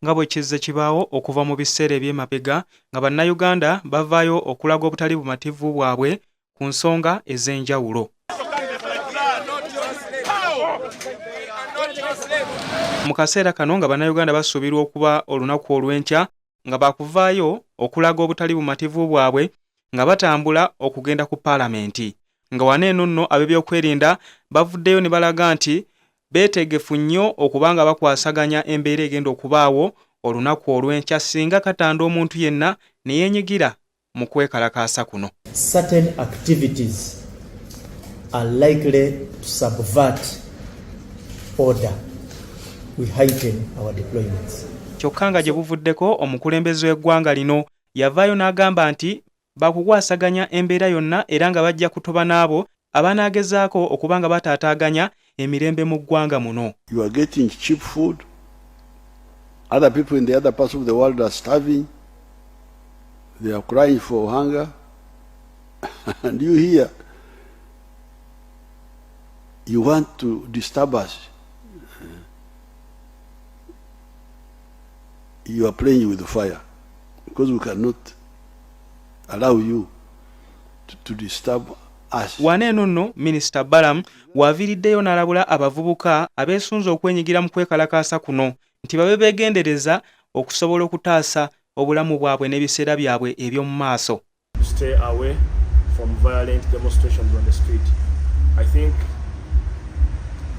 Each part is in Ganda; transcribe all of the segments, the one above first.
nga bwe kizze kibaawo okuva mu biseera eby'emabega nga Bannayuganda bavaayo okulaga obutali bumativu bwabwe ku nsonga ez'enjawulo. Mu kaseera kano nga Bannayuganda basuubirwa okuba olunaku olw'enkya nga baakuvaayo okulaga obutali bumativu bwabwe nga batambula okugenda ku paalamenti nga wano eno nno ab'ebyokwerinda bavuddeyo ne balaga nti beetegefu nnyo okuba nga bakwasaganya embeera egenda okubaawo olunaku olw'enkya singa katanda omuntu yenna ne yeenyigira mu kwekalakaasa kuno. Certain activities are likely to subvert order. We heighten our deployments. Kyokka nga gye buvuddeko omukulembeze w'eggwanga lino yavaayo n'agamba nti Baakukwasaganya embeera yonna era nga bajja kutoba n'abo abanaagezaako okuba nga bataataaganya emirembe mu ggwanga muno. You are getting cheap food, other people in the other parts of the world are starving, they are crying for hunger, and you here, you want to disturb us. You are playing with fire because we cannot allow you to, to disturb us. Wane eno nno Minisita Balaam w'aviiriddeyo n'alabula abavubuka abeesunze okwenyigira mu kwekalakaasa kuno nti babe beegendereza okusobola okutaasa obulamu bwabwe n'ebiseera byabwe eby'omu maaso.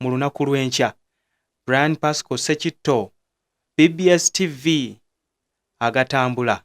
mu lunaku lw'enkya. Brian Pasco Sekitto, BBS TV, agatambula.